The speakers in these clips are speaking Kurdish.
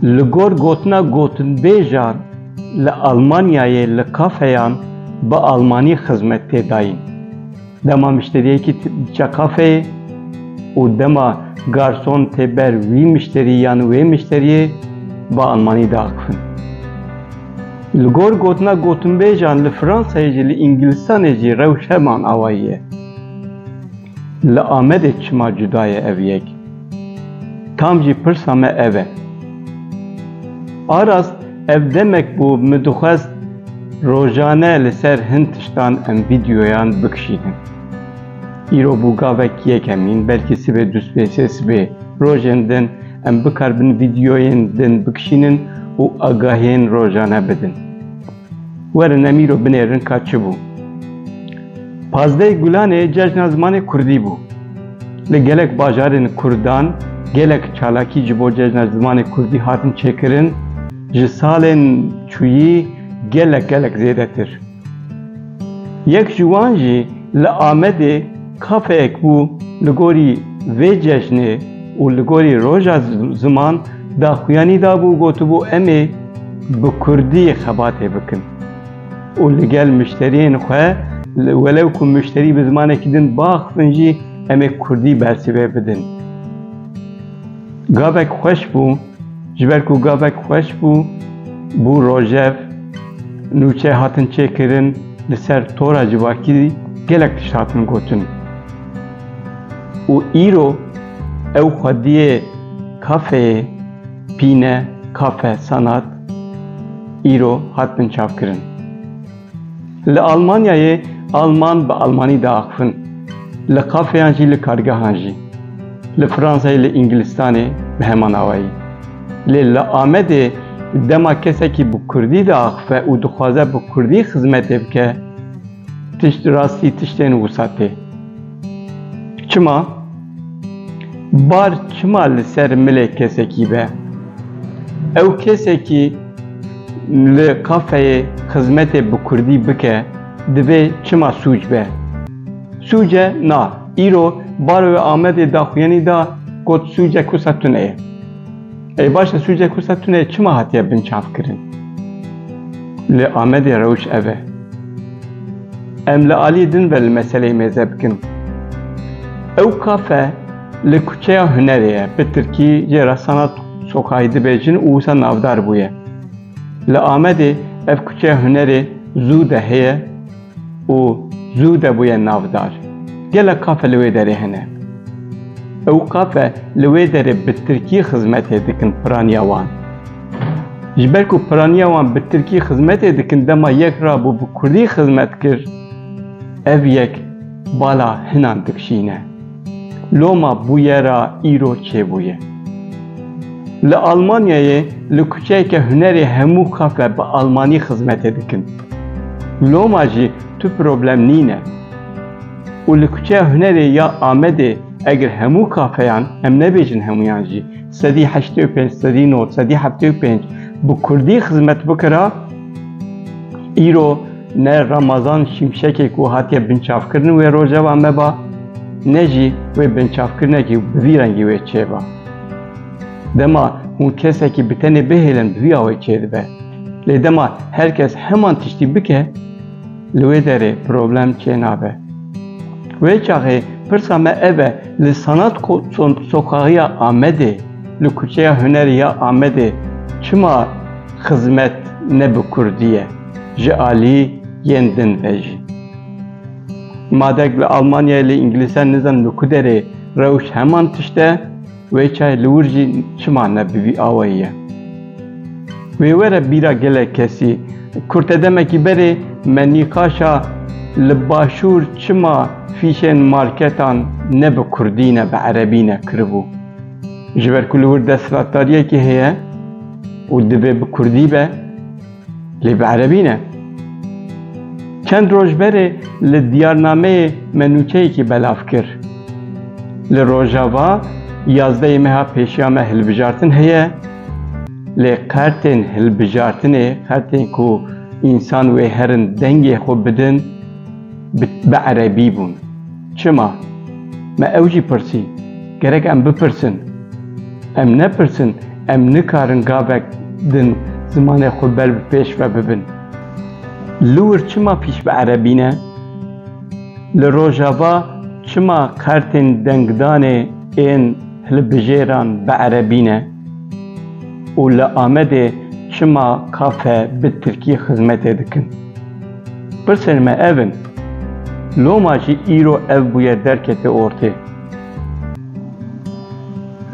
Li gor gotina gotinbêjan li Almanyayê li kafeyan bi almanî xizmet tê dayîn. Dema mişteriyekî diçe kafeyê û dema garson tê ber wî mişterî yan wê mişteriyê bi almanî diaxivin. Li gor gotina gotinbêjan li Fransayê jî li Îngilistanê jî rewş heman awayî ye. Li Amedê çima cuda ye ev yek? Tam jî pirsa me ev e. Aras, Ev demek bû min dixwest rojane li ser hin tiştan em vîdyoyan bikişînin. Îro bû gavek yekemîn, belkî sibê du sibê sê sibê rojên din em bikarbin vîdyoyên din bikişînin û agahiyên rojane bidin. Werin em îro binêrin ka çi bû. Pazdehê Gulanê cejna zimanê Kurdî bû. Li gelek bajarên Kurdan gelek çalakî ji bo cejna zimanê Kurdî hatin çêkirin, ji salên çûyî gelek gelek zêdetir. Yek ji wan jî li Amedê kafeyek bû li gorî vê cejnê û li gorî roja ziman daxuyanî dabû û gotibû em ê, Bi kurdî xebatê bikin û li gel mişteriyên xwe welew ku mişterî bi zimanekî din biaxivin jî em ê kurdî bersive bidin. Gavek xweş bû, ji ber ku gavek xweş bû, bû rojev, nûçe hatin çêkirin, li ser tora civakî gelek tişt hatin gotin. Û îro ew xwediyê kafeyê Pîne, Kafe, Sanat îro hatin çavkirin. Li Almanyayê alman bi almanî diaxivin, li kafeyan jî li kargehan jî. Li Fransayê li Îngilistanê bi heman awayî. Lê li Amedê dema kesekî bi kurdî diaxive û dixwaze bi kurdî xizmetê bike, Tişt rastî tiştên wisa tê. Çima? Bar çima li ser milê kesekî be? Ew kesekî li kafeyê xizmetê bi kurdî bike divê çima sûc be? Sûce na. Îro bar wê Amedê daxuyanî da got sûce kusa tune ye. Ey baş e sûcê Kursa Tuneyê çima hatiye binçavkirin? Li Amedê rewş ev e. Em li aliyê din ve li meseleyê mêze bikin. Ew kafe li kuçeya hunerê ye, bi tirkî jê re sanat sokayî dibêjin û wisa navdar bûye. Li Amedê ev kuçeya hunerê zû de heye. û zû de bûye navdar. Gelek kafe li wê derê hene. Ew kafe li wê derê bi tirkî xizmetê dikin piraniya wan. Ji ber ku piraniya wan bi tirkî xizmetê dikin dema yek rabû bi kurdî xizmet kir, ev yek bala hinan dikşîne. Loma bûyera îro çêbûye. Li Almanyayê li kuçeyeke hunerê hemû kafe bi almanî xizmetê dikin. Loma jî tu problem nîne. Û li kuçeya hunerê ya Amedê eger hemû kafeyan, em nebêjin hemûyan jî, sedî heştê û pênc, sedî nod, sedî heftê û pênc bi kurdî xizmet bikira, îro, Ne Ramazan Şimşekê ku hatiye binçavkirin wê rojeva me ba, ne jî wê binçavkirinekî bi vî rengî wê çêba. Dema hûn kesekî bi tenê bihêlin bi vî awê çêdibe. Lê dema her kes heman tiştî bike, li wê derê problem çênabe. Wê çaxê pirsa me ev e, li Sanat Sokaxiya Amedê, li Kuçeya Hunerî ya Amedê çima xizmet ne bi kurdî ye? Ji alî yên din ve jî. Madek li Almanyayê li Îngilîzan nizanim li ku derê rewş heman tişt e, wê çayê li wir jî çima ne bi vî awayî ye? Wê were bîra gelek kesî. Kur te demekî berê me nîqaşa li başûr çima fîşên marketan ne bi kurdî ne bi erebî ne kiribû. Ji ber ku li wir desthilatdariyekî heye û divê bi kurdî be. Lê bi erebî ne. Çend roj berê li diyarnameyê me nûçeyekî belav kir. Li Rojava yazdeyê meha pêşiya me hilbijartin heye lê qertên hilbijartinê, qertên ku însan wê herin dengê xwe bidin, bi erebî bûn. Çima? Me ew jî pirsî, gerek em bipirsin. Em nepirsin, em nikarin gavek din zimanê xwe ber bi pêş ve bibin. Liwir çima pîş bi erebî ne? Li Rojava çima kartên dengdanê ên hilbijêran bi erebî ne? Û li Amedê çima kafe bi tirkî xizmetê dikin? Pirsên me ev in, Loma jî îro ev bûye derketê ortê?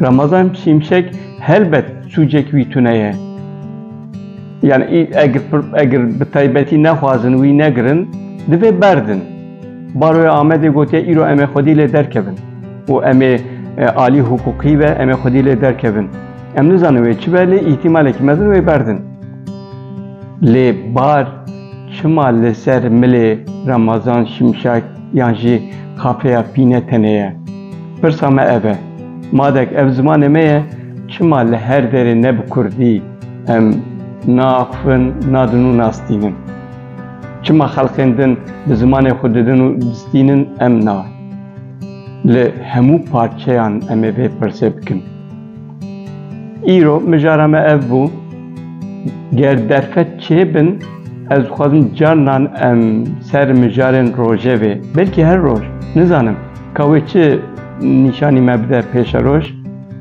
Ramazan Şimşek helbet sûcek wî tune ye. Yani eger bi taybetî nexwazin wî negirin, divê berdin. Baroya Amedê gotiye îro em ê xwedî lê derkevin û em ê alî hiqûqî be em ê xwedî lê derkevin. Em nizanin wê çi be lê îhtîmalekî mezin wê berdin. Lê bar çima li ser milê Ramazan Şimşek yan jî Kafeya Pîne tenê ye? Pirsa me ev e, madek ev zimanê me ye çima li her derê ne bi kurdî em naaxivin, nadin û nastînin? Çima xelkên din bi zimanê xwe didin û distînin em na? Li hemû parçeyan em ê vê pirsê bikin. Îro mijara me ev bû. Ger derfet çêbin ez dixwazim carinan em ser mijarên rojevê belkî her roj nizanim ka wê çi nîşanî me bide pêşeroj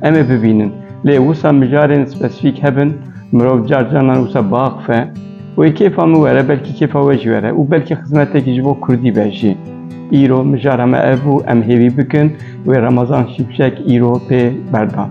em ê bibînin. Lê wisa mijarên spesîfîk hebin mirov car carinan wisa biaxife wê kêfa min were belkî kêfa we jî were û belkî xizmetekî ji bo kurdî be jî. Îro mijara me ev bû em hêvî bikin. Wê Remezan Şimşek îro pê berdan.